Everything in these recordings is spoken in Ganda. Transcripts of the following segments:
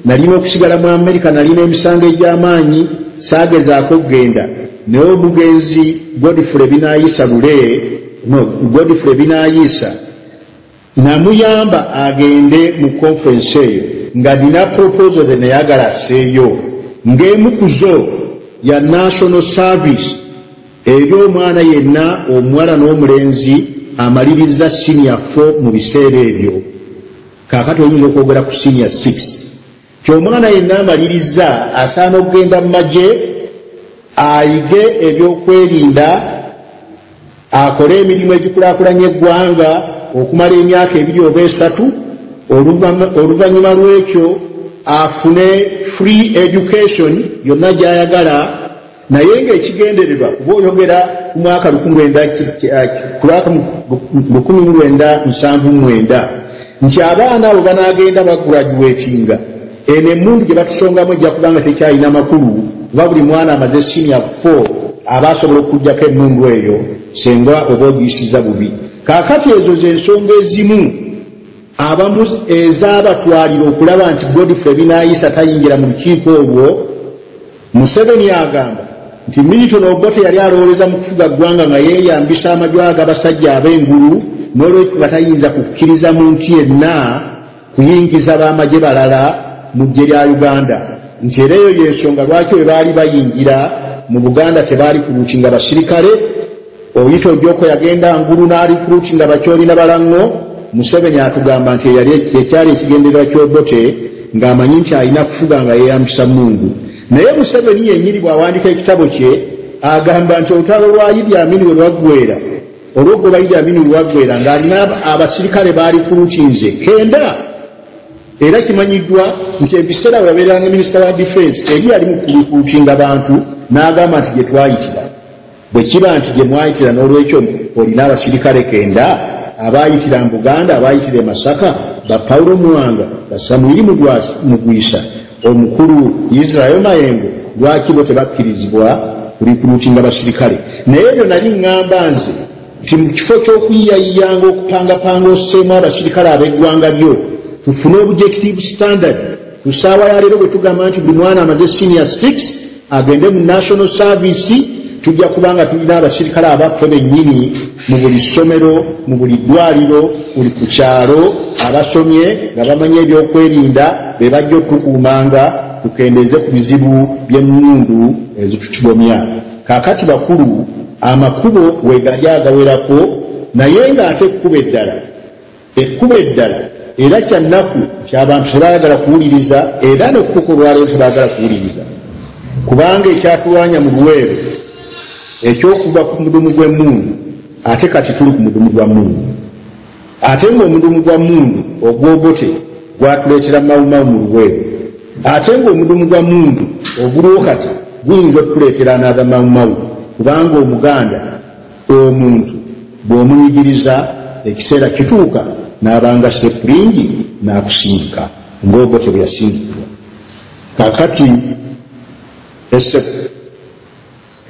nalina okusigala mu amerika nalina emisango egy'amaanyi saagezaako okugenda naye omugenzi godfule binayisa lule no godfule binayisa namuyamba agende mu conference eyo nga nina proposal the neyagala aseeyo ng'emu ku zo ya national service eri omwana yenna omuwala n'omulenzi amaliriza senior fo mu biseera ebyo kaakati oyinza okwogera ku sinia 6 kyomwana yenna amaliriza asaana okugenda mu magye ayige ebyokwerinda akole emirimu egikulakulanya eggwanga okumala emyaka ebiri oba esatu oluvannyuma lw'ekyo afune free education yonna gy'ayagala naye ng'ekigendererwa kuba oyogera ku mwaka lukumi mu lwenda nsanvu mwenda nti abaana abo banaagenda bagraduatinga eno emundu gye batusongamu ejja kubanga tekyalina makulu kuba buli mwana amaze senior four aba asobola okukugjako emundu eyo senga oba ogiyisiza bubi kakati ezo zensonga ezimu abamu ezabatwalira okulaba nti godfrey binayisa tayingira mu lukiiko olwo Museveni agamba nti Milton Obote yali alowoleza mu kufuga ggwanga nga yeeyambisa amajwa ag'abasajja ab'engulu n'olwekyo nga tayinza kukkiriza muntu yenna kuyingiza b'amagye balala mu ggye lya Uganda nti era eyo y'ensonga lwaki bwe baali bayingira mu Buganda tebaali ku luuki nga basirikale oyita ojoko yagenda ngulu n'alikruti nga bakyoli na balango museveni atugamba nti ekyali ekigendererwa kyobote ng'amanyi nti alina kufuga nga yeyambisa mungu naye museveni yenyini bw'awandika ekitabo kye agamba nti olutalo lwa idi amini we lwaggwera olwogoba idi amini we lwaggwera ng'alina abasirikale baali kulutinze kenda era kimanyiddwa nti ebiseera we yabeeranga minisita wa difensi eri yali mu kulutinga bantu n'agamba nti gye twayitira Bwe kiba nti gye mwayitira n'olwekyo olina abasirikale kenda abaayitira mu Buganda, abaayitira e Masaka, ba Paulo Muwanga, ba Samwiri Mugwisa, omukulu Israel Mayengo, lwaki bo tebakkirizibwa kulikuluutinga basirikale? Naye ebyo nali ŋŋamba nze nti mu kifo ky'okuyiyayiyaanga okupangapanga osseemu abasirikale ab'eggwanga lyo tufune obujective standard ku ssaawa ya leero bwe tugamba nti buli mwana amaze senior 6 agende mu national service tujja kubanga tulina abasirikale abaffe bennyini mu buli ssomero mu buli ddwaliro buli ku kyalo abasomye nga bamanyi ebyokwerinda be bajja okukuumanga tukendeeze ku bizibu by'emmundu ezitutugomya kaakati bakulu amakubo wegali agawerako naye ng'ate ekkuba eddala Ekkubo eddala era kya nnaku nti abantu tebaagala kuwuliriza era ne kutuuka olwaleero tebaagala kuwuliriza kubanga ekyatulwanya mu luweero ekyokuva ku mudumu gw'emmundu ate kati tuli ku mudumu gwa mundu ate ng'omudumu gwa mundu ogwogote gwatuleetera mawumawu mu luweero ate ng'omudumu gwa mundu oguliwo kati guyinza okutuleetera anatha mawumawu kubanga omuganda Omuntu bw'omuyigiriza ekiseera kituuka n'abanga sepulingi n'akusindika ng'Obote bwe yasindikibwa. Kaakati essebo.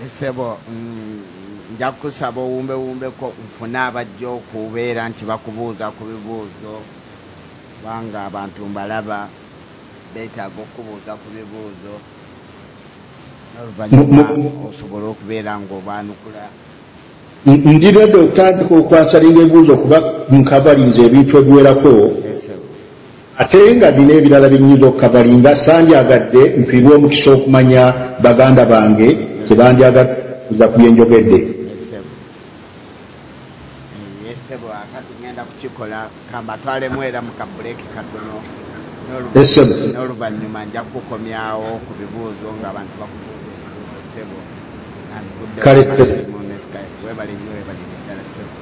Essebo mm, nja kukusaba owumbewumbeko nfune abajja okubeera nti bakubuuza ku bibuuzo kubanga abantu mbalaba beetaaga okukubuuza ku bibuuzo. ndi redi okutandika okwasalinga ebibuuzo okuba nkavalinza ebintu ebiwerako ate nga bina ebirala byenyinza okukavalinga sandyagadde nfiirwa omukisa okumanya baganda bange kyebandyagadde kuza ku byenjogedde esebo akati ngenda kukikola kamba twalemu era mu kabuleki katono n'oluvannyuma nja kukomyawo ku bibuuzo nga abantu bakubuuza sebo kale webale nyo webale ddala sebo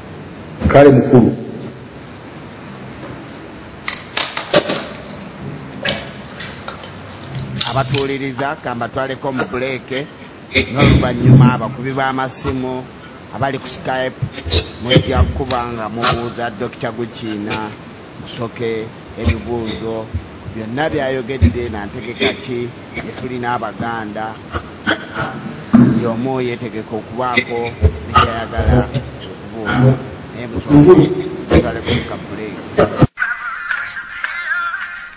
kale mukulu abatuuliriza kambatwaleko mu buleeke n'oluvannyuma abakubi b'amasimu abali ku skype mujja kuba nga mubuuza dokita gukiina musoke ebibuuzo byonna byayogedde nantegeka ki gyetulina abaganda yomu yetegeka okubaako ekyayagala okubuuza naye musoke tutalekumukabuleeki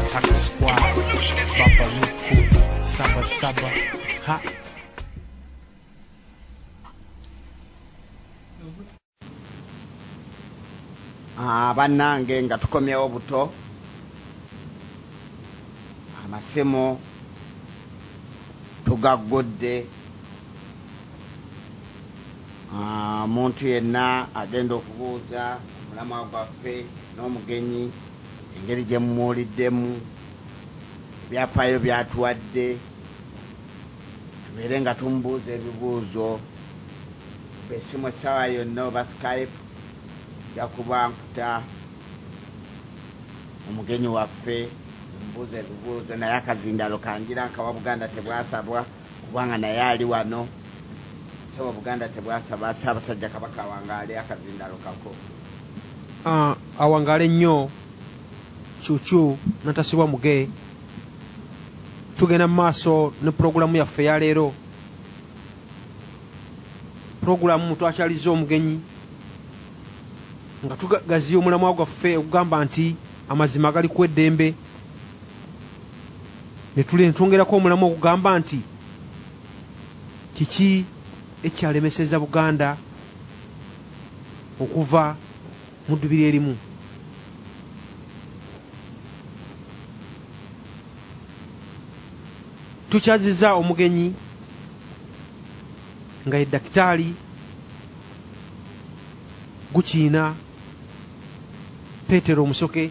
Attack squad, Baba Luku, Saba Saba, ha. Ah, bannange nga tukomyewo buto amasimu tugaggudde omuntu ah, yenna agenda okubuuza omulamwa gwaffe n'omugenyi engeri gye mumuwuliddemu ebyafaayo byatuwadde tubeere nga tumubuuza ebibuuzo besimu essaawa yonna oba skype ja kuba nkuta omugenyi waffe omubuuza ebibuuzo naye akazindalo kangira nkawa buganda tebwasabwa kubanga naye ali wano saba buganda tebwasaba ssaabasajja kabaka awangaale akazindalo kako ah, awangaale nnyo kyukyu natasibwa muge tugenda mu maaso ne pulogulaamu yaffe yaleero pulogulaamu twakyaliza omugenyi nga tugaziya omulamwa gwaffe okugamba nti amazima agali ku eddembe netwongerako omulamu okugamba nti kiki ekyalemeseza buganda okuva mu ddubiri erimu tukyaziza omugenyi nga ye dakitaali gukiina petero omusoke